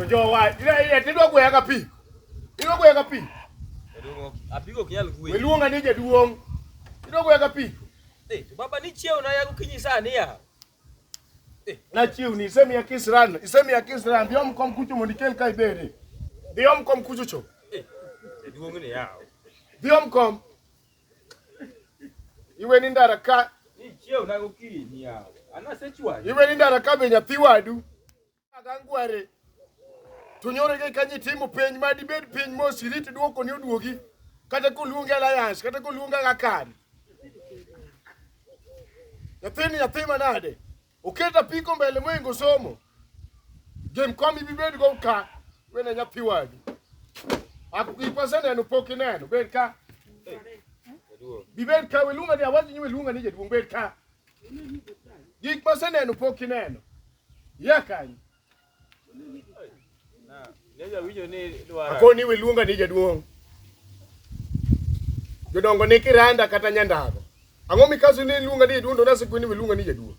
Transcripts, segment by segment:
Njoo wapi? Ila ile tendo kwa yaka pi. Ilo kwa yaka pi. Apigo kinyal kuwe. Weluonga nije duong. Ilo kwa yaka pi. Eh, to baba ni chieo na yago kinyi sani ya. Eh, na chiu ni isemi ya kisran, isemi ya kisran, diom kom kucho mondi kel kai bere. Diom kom kucho cho. Eh, duong ni ya. Diom kom. Iwe ni ndara ka. Ni chieo na yago kinyi ya. Ana sechwa. Iwe ni ndara ka be nyathi wadu. Agangware to nyoro ke kanyi timo penj ma dibed piny mos irit dwoko ni oduogi kata koluonge alliance kata koluonge akani nyathini nyathi manade oket apiko mbele moingo somo gem kom ibibed go ka wene nyathi wagi gik maseneno pok ineno bed ka bibed ka weluonga ni awaji ni weluonga ni jaduong' bed ka gik maseneno pok ineno Yakanyo. Akoni iwe luonga ni jaduong'. Jodongo ni kiranda kata nyandago. Ang'o mikaso ni luonga ni jaduong' to nase kweni iwe luonga ni jaduong'.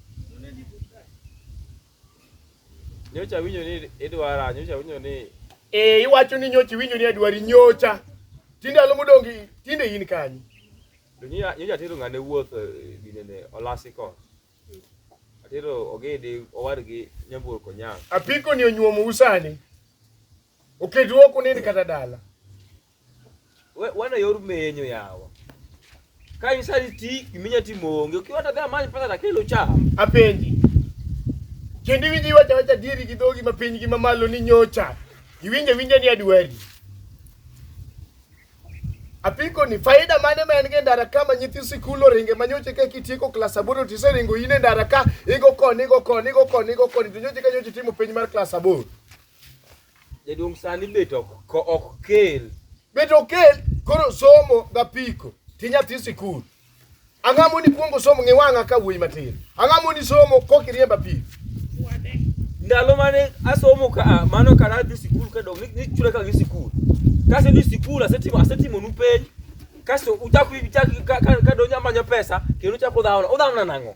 Nyocha winyo ni idwara, nyocha winyo ni Eh iwacho ni nyocha winyo ni adwari nyocha. Tinde alo modongi tinde in kanyo. Nyocha tero ng'ane wuoth eh, dinene olasiko. Apiko ni onyuomo usani. Oketu ok unind kata dala. Wana yor menyo yawa. Ka isali ti giminya timo onge. Ukiwa hata dhama ni pesa takelo cha. Apenji. Kendi winji wacha wacha diri gi dhogi ma piny gi mamalo ni nyocha. Iwinje winje ni adwari. Apiko ni faida mane ma en go e ndara ka ma nyithi sikul oringe ma nyoche ka kitieko klas aboro to iseringo in e ndara ka igo koni igo koni igo koni igo koni to nyoche ka nyoche timo penj mar klas aboro. Jaduong' sani bet ok ok kel. Bet ok kel koro somo ga piko ti nyathi sikul. Ang'o moni kuongo somo ng'i wang'a ka wuoyi matin. Ang'o moni somo kok iriemba pi. Ndalo mane asomo ka ah, mano kara adhi sikul ka dong' ni- ni chula ka gi sikul. Kase dhi sikul asetimo asetimo nu penj. Kasto uchak uchak ka- ka- ka donjo amanyo pesa kendo uchak udhaona. Udhaona nang'o?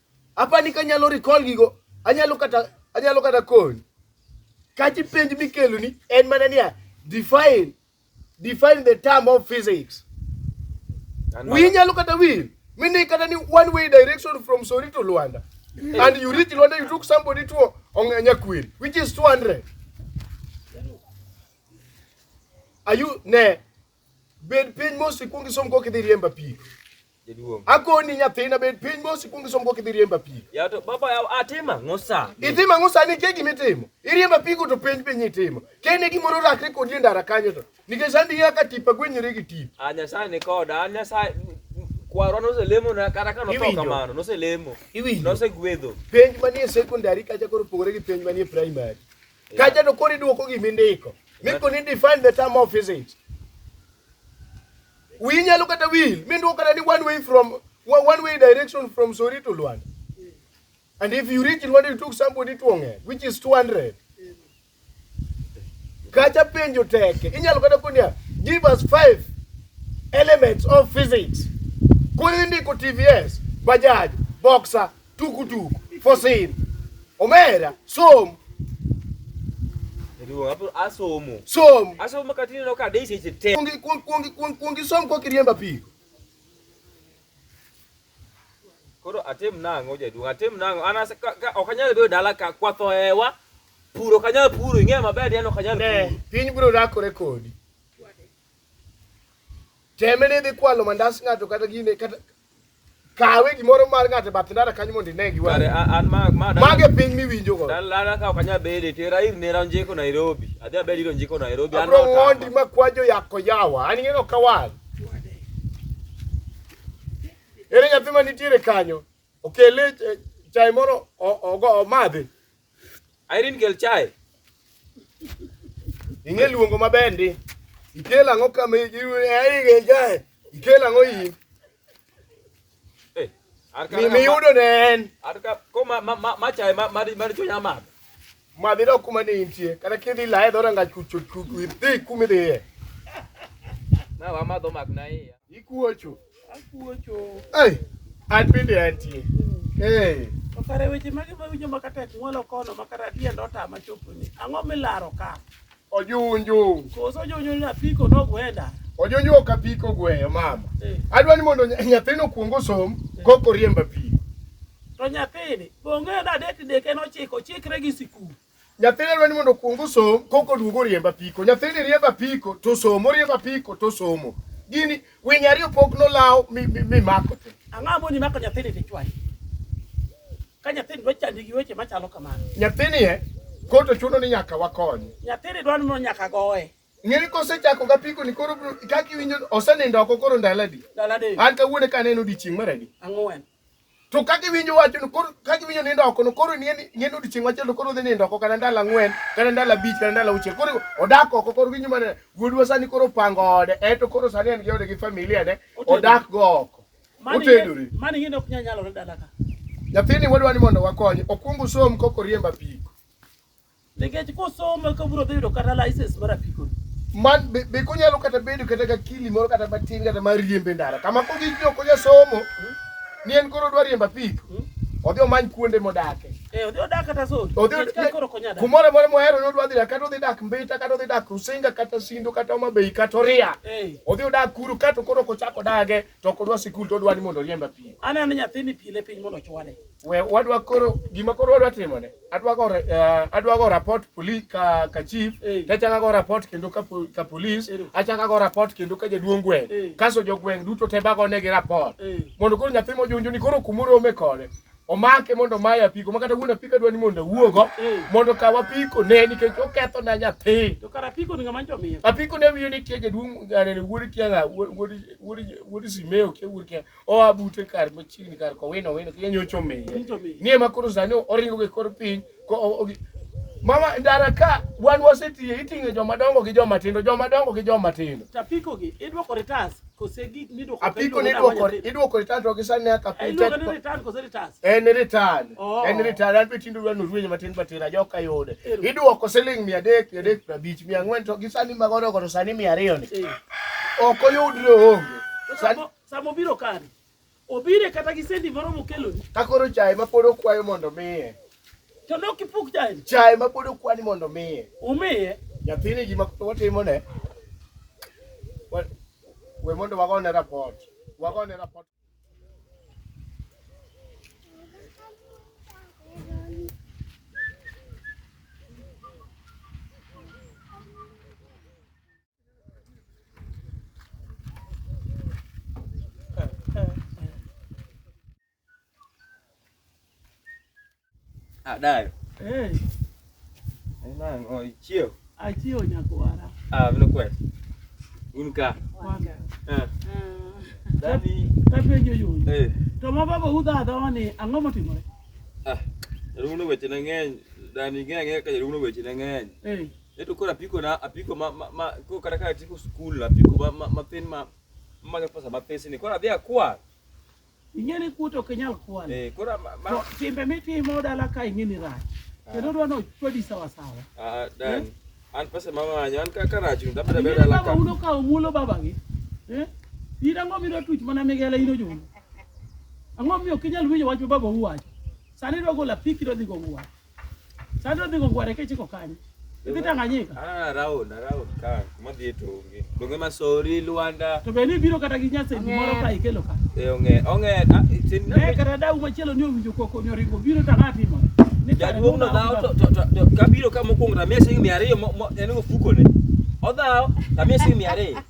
Apani ka nyalo recall gigo, anyalo kata anyalo kata koni. Kachi penj mikelo ni en mana niya define define the term of physics. Wi nyalo kata wi mini kata ni one way direction from Sori to Luanda. And you reach Luanda you took somebody to Onyanyakwil which is 200. Are you ne Bed piny mos ikwong isom kok idhi riemba pi. Jaduong'. Akoni nyathina bed piny mos ikwong isom kok idhi riemba pi. Ya to baba ya atima ngosa. Itimo ang'o sani nitie gima itimo. Iriemba pigo to penj piny itimo. Kene gimoro rakre kodi e ndara kanyo to. Nikech sani ing'eyo ka tipa gwenyore gi tip. A Nyasaye ni koda, an Nyasaye kwarwa noselemo na kata ka notho Iwinjo? kamano, noselemo. Iwinjo? Nosegwedho. Penj manie secondary kacha koro opogore gi penj manie primary. Kacha to kori duoko gimi ndiko. Miko ni define the term of physics. We nyalo kata will, mi nduoko kata ni one way from one way direction from Sori to Luanda. And if you reach Luanda, you took somebody to Onge, which is 200. Kacha penjo teke. Inyalo kata kunia, give us five elements of physics. Kuni ndiko TVS, Bajaj, Boxer, tukutuku for sale omera som asomo som asomo katini no ka deisi chete kuongi kuongi kuongi kuongi som kwa kiriemba pi koro atem nango jaduong atem nango ana ok anyal bedo dala ka kwatho ewa puro ok anyal puro ing'eyo maber yani ok anyal puro piny biro rakore kodi teme ni dhi kwalo mandas ng'ato kata gine kata kawe gimoro mar ng'ato e bath ndara kanyo mondo ine gi wang'i. Mage piny miwinjo go. Dala ka ok anyal bede tera ir nera onjeko Nairobi. Adhi abed ir onjeko Nairobi. Abro ng'ondi ma kwajo yako yawa. An ing'eyo ok awal. Ere nyathi ma nitiere kanyo okele eh, chai moro omadhi. Irene kel chai. Ing'e luongo maber ndi. Ikel ang'o kama Irene kel chai. Ikel ang'o iyi. Mimi yudo ne en. Atka ko ma ma ma chai ma ma ma chunya ma. Ma dhi dok kuma ne intie. Kata kidhi lae dho ranga chuchu chuchu idhi kuma idhiye. Na wa ma dho mak na iya. Ikuocho. Hey, atende atie. Hey. To kare weche mage ma winjo ma kata ng'walo kono ma kata tie ndo ta ma chopo ni. Ang'o milaro ka? Ojunju. Koso ojunju na piko no gwenda. Ojunju ok apiko gweyo mama. Hey. Eh. Adwa ni mondo nyathino kuong osom hey. Eh. koko riemba pi. To nyathini, bonge na dek dek en ochiko, chikre gi sikul. Nyathine dwa ni mondo okuong osom koko duog oriemb apiko. Nyathini riembo apiko to somo, oriembo apiko to somo. Gini winy ariyo pok nolaw mi, mi, mi mako te. Ang'ama moni mako nyathini to ichwayo. Ka nyathini dwa chandi gi weche machalo kamano. Nyathini e koto chuno ni nyaka wakonye. Nyathini dwa ni mondo nyaka goye. Ng'eni kosechako ga piko ni koro bro- kaka iwinjo osenindo oko koro ndalo adi? Ndalo adek. An kawuono ka aneno odiechieng' mar adi? Ang'wen. to ka giwinjo wachno koro ka giwinjo nindo oko no koro nie nie odiechieng' machielo koro odhi nindo oko kata ndalo ang'wen kata ndalo abich kata ndalo auchiel koro odak oko koro winjo mana wuodwa sani koro pango ode eto koro sani en gi ode gi familia ne odak go oko otedore mani ngine ok nyalo dala ka nyathini wadwa ni mondo wakonye okwong usom koko riemba piko Nikech kosomo eka obiro dhi yudo kata license mar apiko. Man be, be konyalo kata bedo kata ga kili moro kata matin kata mar riembe ndara. Kama ko gik joko ja somo ni en koro dwa riemba pik. Odhi omany kuonde modake. Eh, odhi odak kata zone. Odhi Nikech ka koro konya dak. kumoro moro mohero ni odwa dhi dak, kata odhi dak Mbita kata odhi dak Rusinga kata Sindo kata Homa Bay kata Oria. Eh, Odhi odak kuru kato koro kochako dage to ok odwa sikul to odwa ni mondo oriemba pik. aneno nyathini pile piny mondo ochwale. We wadwa koro gima koro wadwa timo ne adwa go eh, adwa go report police ka ka chief tachaka go report kendo ka ka police achaka go report kendo ka jaduong' gweng' kaso jogweng' duto te bago ne gi report mondo koro nyathi mojunjo ni koro kumoro ome kode omake mondo maye apiko ma kata wuon apiko dwa ni mondo awuogo mondo kaw apiko ne nikech oketho na nyathi To kara piko ni ngama njo miyo. apiko ne wiyo ni tie jaduong' eh, wuod kianga wuod wuod wuod simeo kia wuod kianga oa bute kar machiegni kar kowino wino kendo nyocho miye ni ema koro sani oringo gi kor piny mama ndara ka wan wasetiye iting'e joma dongo gi joma tindo joma dongo gi joma tindo tapiko gi idwoko retas kose gik midwoko apiko ni idwoko idwoko retas to gisa ne ka pete idwoko ni retas kose retas en retas oh. en retas an be tindo wan ruwenye matin matin ajo ka yode idwoko siling 300 350 400 to gisa ni magodo godo sani 200 ni eh. ok oyudre onge Sama obiro kare, obire kata gi sendi moro mokeloni. Ka koro chae ma pod okwayo mondo omiye. To ne ok ipuk chae. Chae ma pod okwani mondo omiye. Umiye. Nyathini gima watimo ne. We mondo wagone rapot. Wagone rapot. Adayo. Ah, eh. Ina ngo ichio. Achio nyakwara. Ah, vile kweli. Unka. Wanga. Eh. Ah. Dani. Tapi yo yo. Eh. To ma baba uda da wani ango motimore. Ah. Runo weche na ng'eny, dani ng'eny ka runo weche na ng'eny. Eh. Eto koro apiko na apiko ma ma, ma koro kata ka tipo skul apiko ma ma mathin ma ma pesa ma pesa ni koro adhi akwa. Ing'e ni kuto ok inyal kwalo. Eh koro ma, ma To timbe mitimo dala ka ing'e ni rach. Kendo dwa ni ochwadi sawa sawa. ah, dan Eh? an pesa ma manyo an ka ka rach ni tabeda Ing'e beda ni la baba ka. uno ka omulo babagi. Eh? In ang'o midwa tuch mana migela in ojuno? Ang'o miyo ok inyal winjo wach ma baba uwacho? Sani idwa golo apiki idwa dhi go uwacho. Sasa odhi go gware kechiko kanye? Idhi Tanganyika. Ah, round, round ka. Modhi to onge. Donge masori Luanda. To be ni biro kata gi nyase moro ka ikelo ka. Eh onge, onge. Ah, ne kata dau machielo ni owinjo koko nyoringo biro tangati mo. Jaduong' no dhaw to to to kabiro ka mokwongo tamia siling' mia ariyo en ofuko ne. Odhaw tamia siling' mia ariyo.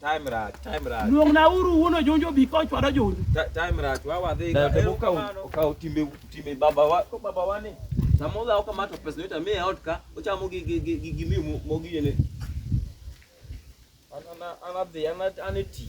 Time rach, time rach. Luong na uru wuono jonjo bi ko chwado jonjo. Time rach, wa wadhi. Na tebo ka ukaw timbe timbe baba wa, ko baba wa ni. Samo la ukamato pesa nita mie out ka, uchamo gi gi gi gi mi mo gi yene. Ana ana ana ana ana ti.